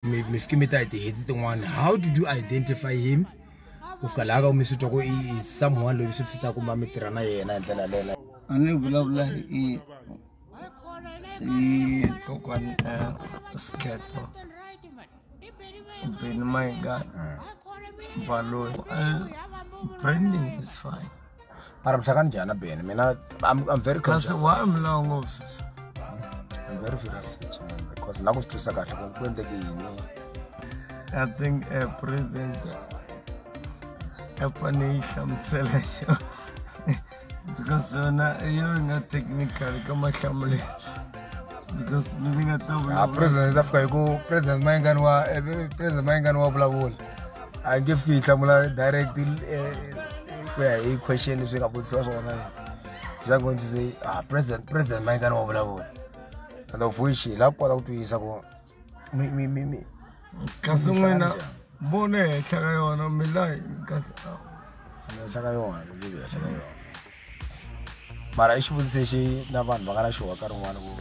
mi mi fike mi ta hi tiheti tin'wana how did you identify him ku fika laha ka ku mi swi twa ku i someone loyi mi swi fita kumba mi tirha na yena hi ndlela leyo a ni vulavula hi hi kokwani ta sketo beni mayingana baloyi branding is fine mara mhlakani njhani na bene mina I'm, I'm very kasi conscious why mlawu ngopfu sisi I'm very serious with you, man, because la ku swi twisa kahle ku ku endleke yini i think a president a fane yi hlamusela yo because yona yo yi nga technical ka mahlamulelo because mi ni nga ta Ah, vulavula president ta fika hi ku president mayingani wa eh, president mayingani wa vulavula a nge fiki yi hlamula direct eh, ku ya hi question leswi nga vutisiwa swona swa ku ndzi se ah president president mayingani wa vulavula and of which hi la kota ku twisisa ku mi mi mi mi kasi n'wina mbono ehenhla ka yona milayi kasi ah. ehenhla ka yona ehenhla ka yona mara i xivutiso lexi na vanhu va nga na xihoka rin'wana ku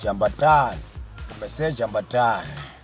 jambatani kumbe se jambatani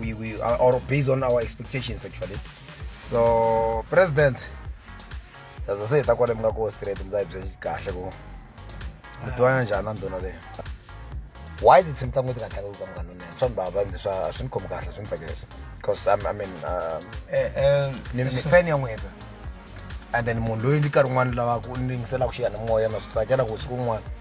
we, we are, or based on our expectations actually so president chaza se hi ta kwale mi nga ko straight mi ta hi byela kahle ku mi tivana njhani a ndhuna leyi why did team tango tika tango kwa mngano ne so baba ndi swa swi khomi kahle swi mfakesa because I'm, i mean um eh eh ni ni fan ya n'wina and then munhu loyi ndi karhi n'wana lava ku ndingisela ku xiya ni moya na swi tsakela ku siku n'wana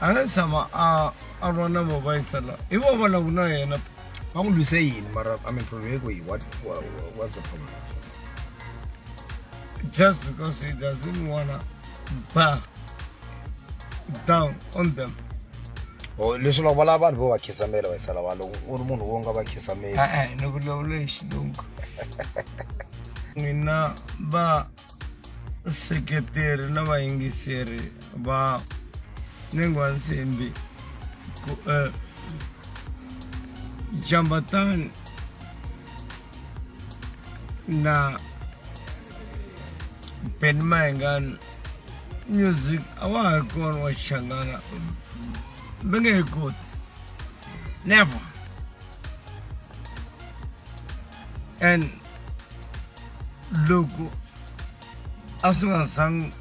a nga tshama a a va na mavaisa la i vo vona ku na yena va n'wi lwise yini mara i mean problem yiko yi what what's the problem just because he doesn't wanna bow down on them oh, leswi loko va lava vanhu vo va khisamela va yisa lava loko u ri munhu wo nga va khisameli e-e ni vulavula hi xilungu n'wina va vaseketeri na vayingiseri va nengwansimbi ku eh, jambatani na ben mayengani music a wa ha ri kona wa xichangana mi nge he koti never and loko a swi nga zangi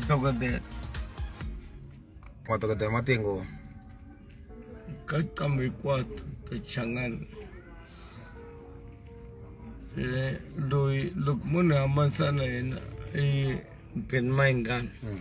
dokodela madokodela matengo ka qambo hinkwato ta changana eh, loyi loko munhu hambanisana yena i mpeni mayingani hmm.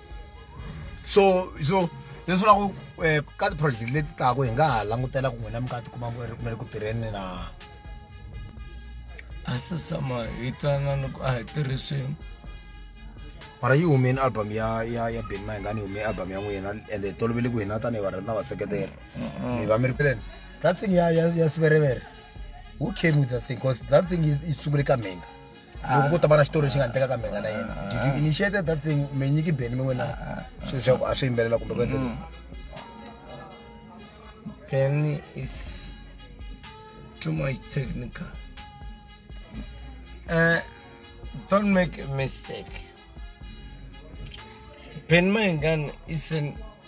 so so leswi la ku eh, ka ti-project leti taku hi nga ha langutela ku n'wina mi ka tikuma mi ri kumele ku tirheni na a se tshama hi twanana ku a hi tirhi swin'we mara yi humeni album ya ya ya ben mahingani yi hume album ya n'wina ende hi tolovele ku hina tanihi varhandi na vaseketeri mi va mi ri peleni that thing ya ya ya siverevere who came with that thing because that thing yi yi sungule ka mhinga loko ku ta va na xitori lexi nga endleka ka mina na yena ah. did you initiate that thing mi nyiki beni mi wena ah, ah. swilo swa ku a swi yimbelela kumbe ku endleka mm. beni is too much technical uh, don't make a mistake Ben Mangan is an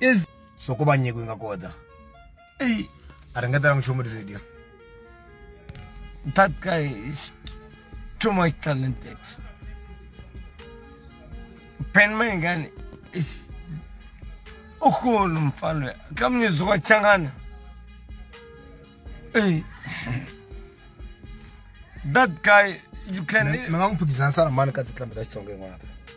is so ko va nyiko yi nga kota ei a ri nga tala nchumu risedio that guy is too much talented ben mengane is ukhulu mfana loyi kamnyezo wa changana ei that guy you can mi nga n'wi phikizanisa na mani ka tinhlambi ta xitsongo yin'wana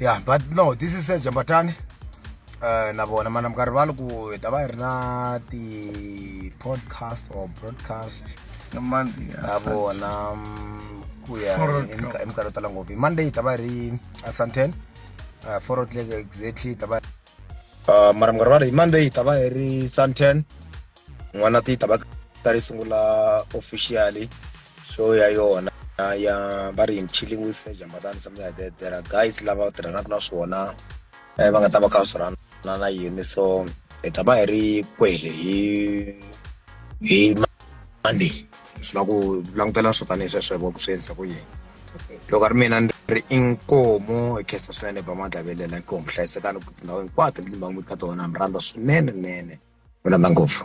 yeah but no this is Sergeant Batani uh, na vona mana mi nga rivali ku hi ta va hi ri na ti-podcast or broadcast na monday ya na Sunday. vona mm, ku ya Four hi o'clock. minka- hi minkarhi yo tala ngopfu hi monday hi ta va hi ri asanten uh, four o'clock exactly hi ta va uh, mara mi nga rivali hi monday hi ta va hi ri santen n'wana ti ta va ta ri sungula officially show ya yona ya va ri in chilling with sir jamadani something like that there are guys lava tirhanaka na swona eh, va nga ta va kha swi rhana na yini so hi ta va hi ri kwele hi hi monday swi la ku langutela swo tanihi sweswo hi ku swi endlisa ku yini loko a ri mina ni ri i nkomo hi khensa swinene ba madlavelela nkomo hlayisekani ku tindhawu hinkwato leti ni va n'wi ka tona mi rhandza swinene nene mi rhandza ngopfu